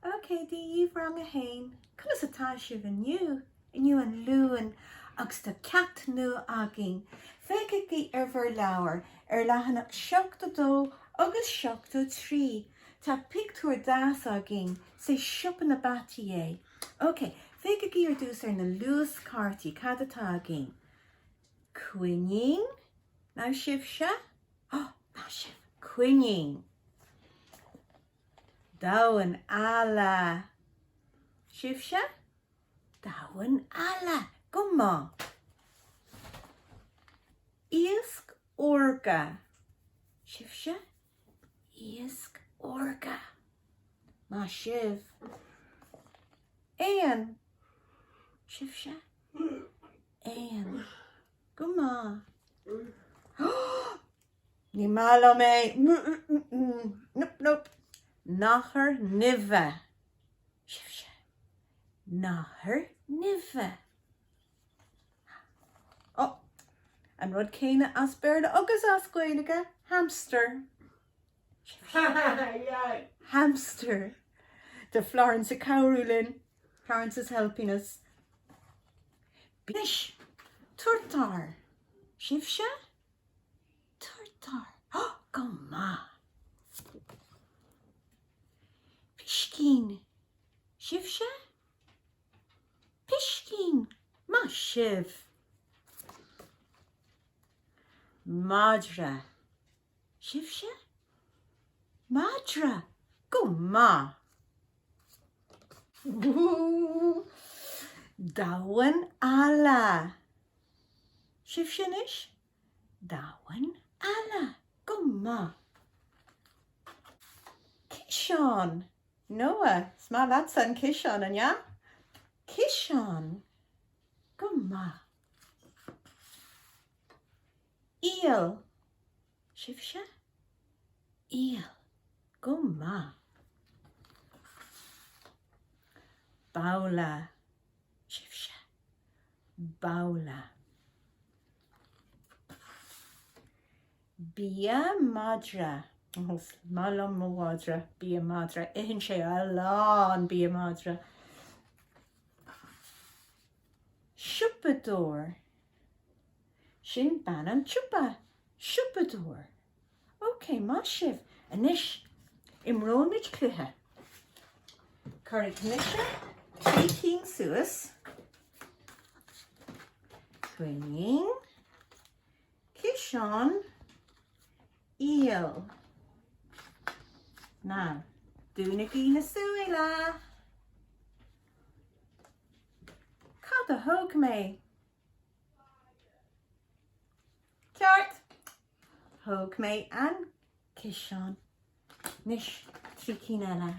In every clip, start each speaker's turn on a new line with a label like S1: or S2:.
S1: OK, Dia daoibh, rang a haon, conas atá sibh inniu? Inniu an Luan agus tá ceacht nua againn. Féachaigí ar bhur leabhair, ar leathanach 72 agus 73. Tá pictiúr deas againn, sé siopa na bpeataí é. OK, féachaigí ar dtús ar na luaschártaí, cad atá againn? Coinín? Anois sibhse? Ó, maith sibh, coinín. Damhán alla! Sibhse? Damhán alla! Go maith. Iasc órga. Sibhse? Iasc órga. Maith sibh. Éan. Sibhse? Éan. Go maith. Ní maith liom é, nope nope. Nathair nimhe, sibhse? Nathair nimhe? Ó, an rud céanna as Béarla agus as Gaeilge, hamster, sibhse? Hamster. Tá Florence ag cabhrú linn, Florence is helping us. Anois, turtar, sibhse? Turtar, Go maith. Piscín, Sibhse? Piscín, Maith sibh! Madra, Sibhse? Madra, Go maith. Damhán alla, Sibhse anois? Damhán alla, go maith. Ciseán! Noah, is maith leatsa an ciseán, an ea? Ciseán! Go maith. Iall. Sibhse? Iall. Go maith. Babhla. Sibhse? babhla bia madra. Is maith liom mo mhadra. bia madra, itheann sé a lán bia madra. siopadóir, sin bean an tsiopa. siopadóir. OK, maith sibh! Anois, imreoimid cluiche. Cuirfidh mise trí cinn suas, coinín, ciseán, iall. Now, dúnaigí na súile! Cad a thóg mé? Ceart. Thóg mé an ciseán. Anois trí cinn eile.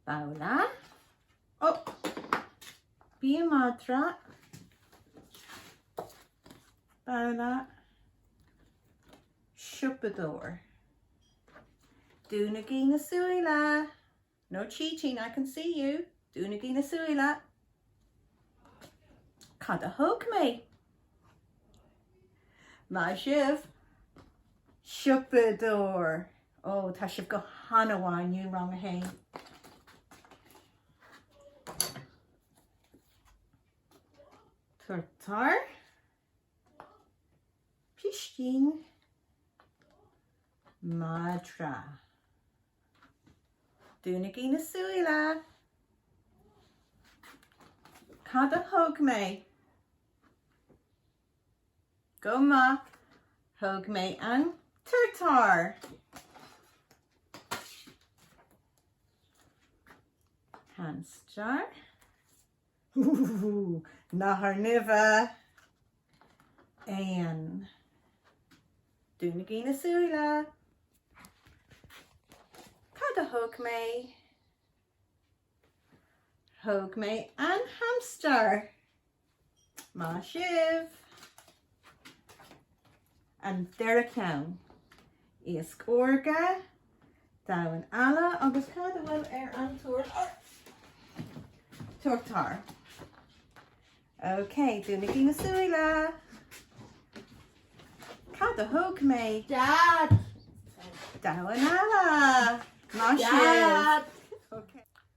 S1: Babhla. Ó! Bia madra. Babhla. Siopadóir. Dúnaigí na súile. No cheating, I can see you, Dúnaigí na súile! Cad a thóg mé? Maith sibh! Siopadóir! Ó, tá sibh go han-mhaith inniu, rang a haon! Turtar. Piscín. Madra. Dúnaigí na súile! Cad a thóg mé? Go maith, thóg mé an turtar! Hamstar. Ooh! Nathair Nimhe, éan. Dúnaigí na súile. Cad a thóg mé? Thóg mé an hamstar. Maith sibh! An deireadh ceann. Iasc órga, damhan alla agus cá bhfuil an turtar? Turtar. Ok, dúnaigí na súile. Cad a thóg mé? Dad! Damhan alla! Maith sibh!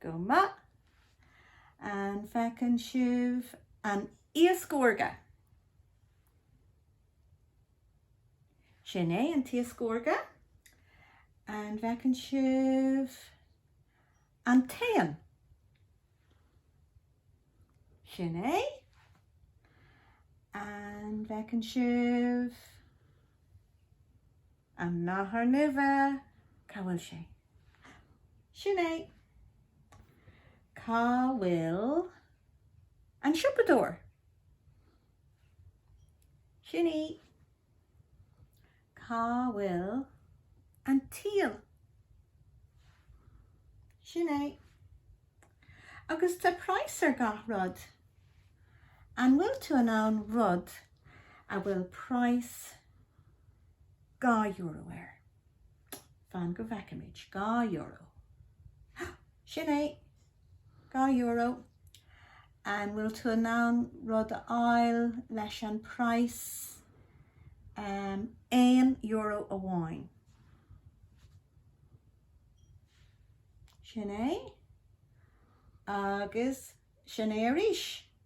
S1: Go maith. An bhfeiceann sibh an t-iasc órga? Sin é an t-iasc órga. An bhfeiceann sibh an t-éan? Sin é. An bhfeiceann sibh? An nathair nimhe, cá bhfuil sé? Sin é. Cá bhfuil an siopadóir? Sin í. Cá bhfuil an t-éan? Sin é. Agus tá praghas ar gach rud. An bhfuil tú in ann rud a bhfuil praghas Dhá euro air. Fan go bhfeicimid. Dhá euro. Sin é. Dhá euro. An bhfuil tú in ann rud a fháil leis an praghas aon euro amháin? Sin é. Agus sin é arís.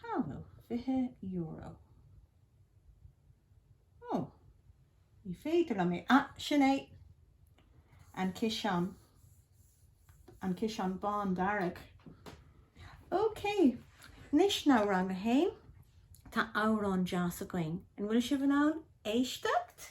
S1: Cá bhfuil €20? Ó, ní féidir liom é. Ah, sin é! An ciseán. An ciseán bán dearg. OK. Anois now rang a haon, tá amhrán deas againn. An bhfuil sibh in ann éisteacht?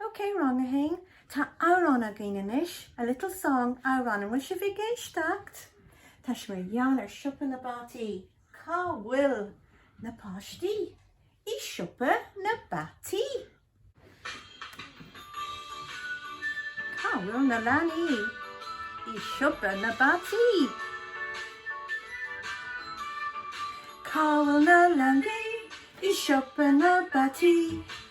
S1: OK Rang 1, tá amhrán againn anois, a little song, amhrán, an bhfuil sibh ag éisteacht? Tá sé mar gheall ar siopa na bpeataí. Cá bhfuil na páistí? I siopa na bpeataí. Cá bhfuil na leanaí? I siopa na bpeataí. Cá bhfuil na leanaí? I siopa na bpeataí.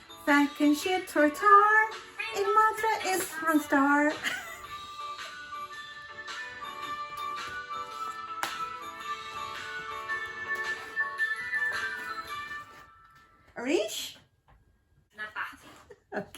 S1: Feiceann siad turtar, an madra is hamstar. Arís? Na bpeataí. Ok.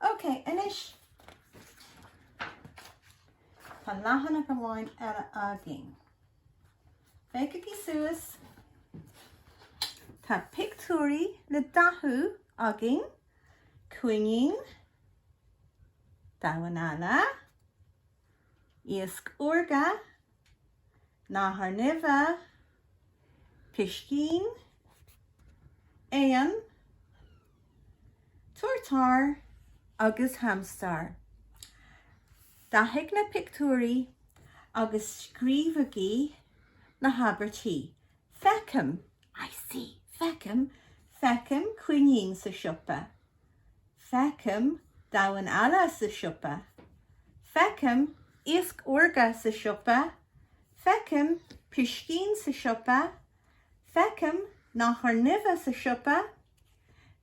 S1: Ok, anois tá leathanach amháin eile againn. Féachaigí suas. Tá pictiúirí le dathú againn, coinín, damhán alla, iasc órga, nathair nimhe, piscín, éan, turtar agus hamstar. Dathaigh na pictiúirí agus scríobhaigí na habairtí. Feicim I see feicim feicim coinín sa siopa. Feicim damhán alla sa siopa. Feicim iasc órga sa siopa. Feicim piscín sa siopa. Feicim nathair nimhe sa siopa.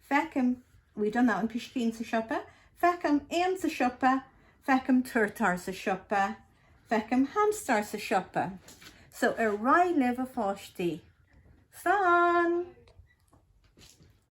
S1: Feicim, we done that one, piscín sa siopa. Feicim éan sa siopa. Feicim turtar sa siopa. Feicim hamstar sa siopa. So, ar aghaidh libh a pháistí. Slán!